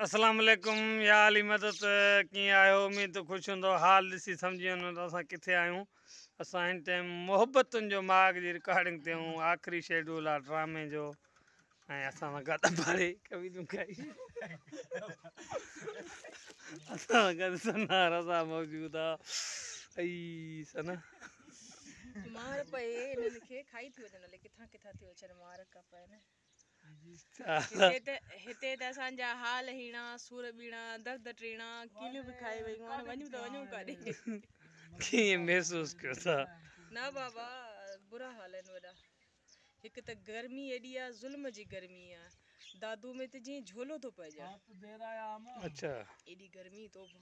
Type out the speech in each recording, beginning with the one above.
اسلام عليڪم يا علي مدد ڪيئن آهيو اميد ته خوش هوندو حال ڏسي سمجهي وڃو ته اسان ڪٿي آهيون اسان هن ٽائم محبتن جو ماڳ جي رڪارڊنگ تي آهيون آخري شيڊول آ ڊرامي جو ۽ اسان سان گڏ ڀاڙي ڪوي تون کائي اسان گڏ سنا رضا موجود آ اي سنا مار پئي انهن کي کائي ٿي وڃن الي ڪٿان ڪٿان ٿيو اچن مار ڪا پئي نه هتي ته اسان جا حال هيڻا، سور ٻيڻا، درد ٽيڻا، ڪيليون به کائي ويون هاڻي وڃون ته وڃون ڪاڏي؟ ڪيئن محسوس ڪيو ٿا؟ نه بابا برا حال آهن وڏا هڪ ته گرمي ايڏي آ ظلم جي گرمي آ دادو ۾ ته جئين جهولو ٿو پئجي اڇا ايڏي گرمي توبه.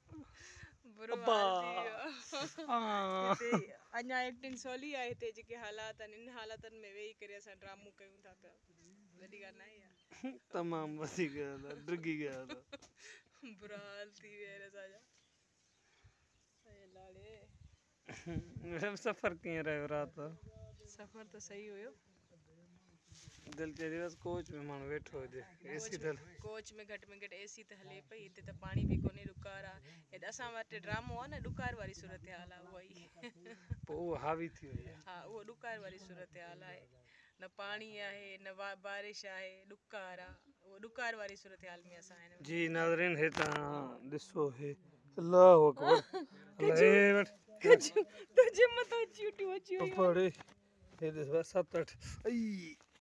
برو حال ٿي ويو هتي اڃا ايڪٽنگ سولي آهي هتي جيڪي حالات آهن ان حالاتن ۾ ويهي ڪري اسان ڊرامو ڪيون ٿا ته وڏي ڳالهه ناهي اها تمام وسي گيا ٿا ڊگي گيا ٿا برا حال ٿي ويا آهن اسان جا اي لاڙي ويب سفر ڪيئن رهيو رات جو. سفر ته صحيح هيو. دل چئي ٿي بس ڪوچ ۾ ماڻهو ويٺو هجي اي سي ته هلي. ڪوچ ۾ گهٽ ۾ گهٽ اي سي ته هلي پئي هتي ته پاڻي به ڪونهي ڏڪار آ هت اسان وٽ ڊرامو آ نه ڏڪار واري صورتحال آ اها ئي. پوء اهو حاوي ٿي وئي آ. ها اهو ڏڪار واري صورتحال آهي. نه پاڻي آهي نه بارش آهي ڏڪار آ اهو ڏڪار واري صورتحال ۾ اسان آهن جي ناظرين هي تان ڏسو هي الله اڪبر تجھي مٿان چيٽيون اچي ويون پڙي هي ڏس ست اٺ اي